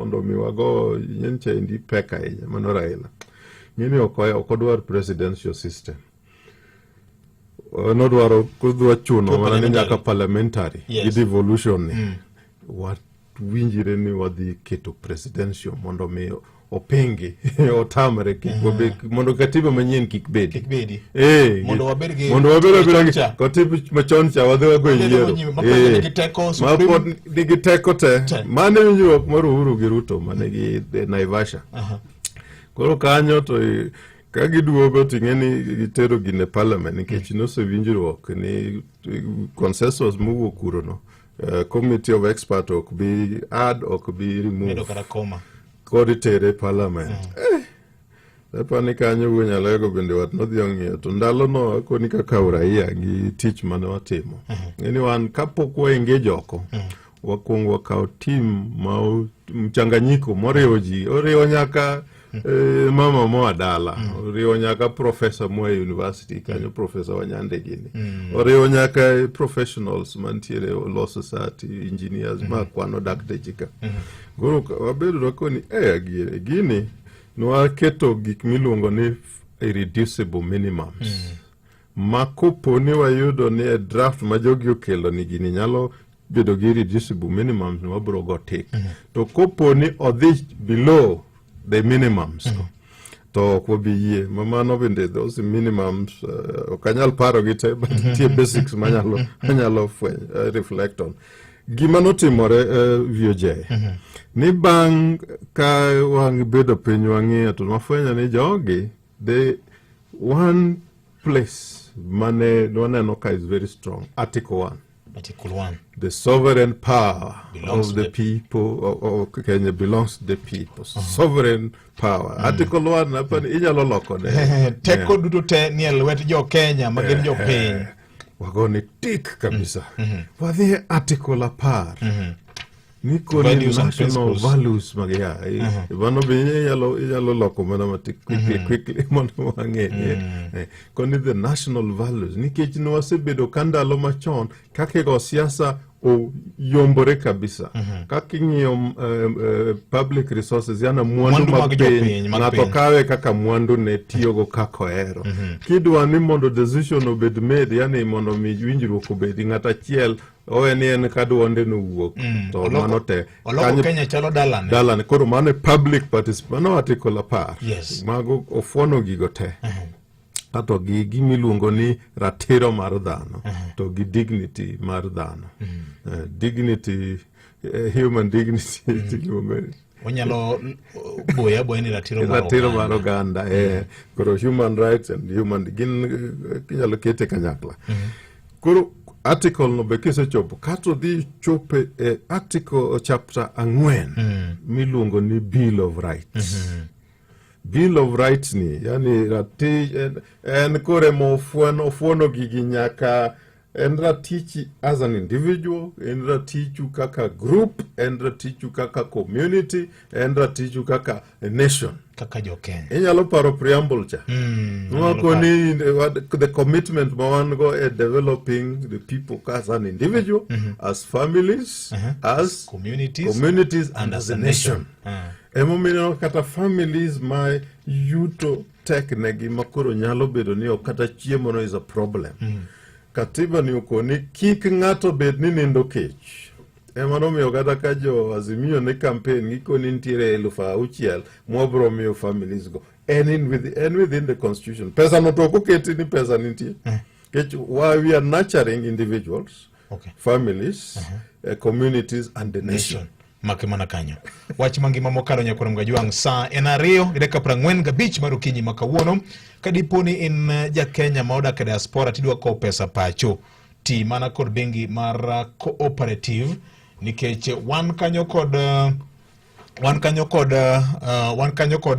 mondo mi wago nyen chaindi pek ahinya mano Raila mimi ok odwar presidential system nodwaro kudwa chuno mana ni nyaka parliamentary yes. gi devolution ni mm. watwinjire ni wadhi keto presidential mondo mi openge otamre eh. mondo katiba manyien kik bedi eh, mondo wabed abeda katiba machon cha wadhi wago e yiero eh. nigi teko te mane winjruok mar uhuru gi ruto mane gi naivasha koro kanyo to ka giduogo ting'e ni gitero gi ne parliament nikech mm. nosewinjruok ni consensus mowuok kurono uh, eh, committee of expert ok bi add ok bi remove kod tere parliament mm. eh, Lepa ni kanyo wuon Nyalego bende wat nodhi ong'iyo to ndalono akoni kaka uraia gi tich mane watimo. Ng'e ni wan kapok waengage oko, wakwongo wakawo tim ma o- mchanganyiko moriwo ji, oriwo nyaka eh, mama moa dala, oriwo nyaka profesa moa e university kanyo profesa Wanyande gini, oriwo nyaka eh, professionals mantiere e law society, engineers ma kwano dakteche ka. Koro ka- wabedo wakoni eh, adier, gini Nwaketo gik miluongo ni irreducible minimums. Mm. Ma kopo ni wayudo ni e draft ma jogi okelo ni gini nyalo bedo gi irreducible minimums ni wabiro go tik. Mm. To kopo ni odhi below the minimums. Mm. to ok wabi yie ma mano bende those minimums uh, ok anyal paro gi te but nitie basics manyalo anyalo fweny uh, reflect on Gima notimore uh, eh, VOJ mm -hmm. ni bang' ka wabedo piny wang'iyo to wafwenyo ni jogi they one place mane waneno ka is very strong article one Article 1. The sovereign power belongs of the, the people of, of Kenya belongs to the people. Uh -huh. Sovereign power. Mm. Article 1 hapa mm. inyalo loko ne. Teko duto te ni e lwet jo Kenya ma gin jo piny. wagone tik kabisa mm -hmm. wadhie article apar mm -hmm. niko ni national values mag ya eh, mm -hmm. mano be inyalo inyalo loko mana matik quickly mm -hmm. quickly mondo wang'e mm -hmm. eh, koni the national values nikech nwasebedo ka ndalo machon kaka go siasa o- yombore kabisa kaka ing'iyo um, eh, public resources yana mwandu Mwandu mag mag jopiny, piny mag ng'ato piny. kawe kaka mwandu ne tiyogo kaka ohero kidwa ni mondo decision obed made yani mondo mi winjruok obedi ng'at achiel owe ni en ka dwonde nowuok to Oloko- mano te oloko Kanyo- kenya chalo dalane dalane koro mano e public participation mano article apar Yes. mago ofuono gigo te kato gi gima iluongo ni ratiro mar dhano to gi dignity mar dhano mm. uh, dignity uh, human dignity mm. onyalo boya boya ni ratiro mar ratiro mar oganda eh koro human rights and human gin inyalo kete kanyakla mm -hmm. koro article no be kisechopo kato dhi chope e article chapter ang'wen mm. miluongo ni bill of rights mm -hmm. Bill of Rights ni yani ratich en, en kore mofuano ofuono gigi nyaka en ratichi as an individual en ratichu kaka group en ratichu kaka community en ratichu kaka a nation kaka jokenya inyalo paro preamble cha mm, wako ni the commitment ma wan go e developing the people as an individual mm -hmm. as families uh -huh. as communities, communities and, and as, as a nation, nation. Uh ah. -huh. Emomiyo kata families ma yuto tek negi ma koro nyalo bedo ni ok kata chiemo no is a problem. Mm. Katiba ni okoni kik ng'ato bed ni nindo kech. Ema nomiyo kata ka jo Azimio ne campaign gikoni nitiere elfu auchiel mwabro miyo families go. And in within, and within the constitution. Pesa no to ok oketi ni pesa nitie. Mm. Kech, while we are nurturing individuals, okay. families, uh -huh. uh, communities and the nation. nation. make mana kanyo wach mangima mokalo nyakoro mga jwang' sa en ariyo gi dakika prang'wen gabich mar okinyi ma kawuono ka dipo ni in eh, ja Kenya ma odak e diaspora tidwa kowo pesa pacho ti mana kod bengi mar eh, cooperative nikech wan kanyo kod eh, wan kanyo kod uh, wan kanyo kod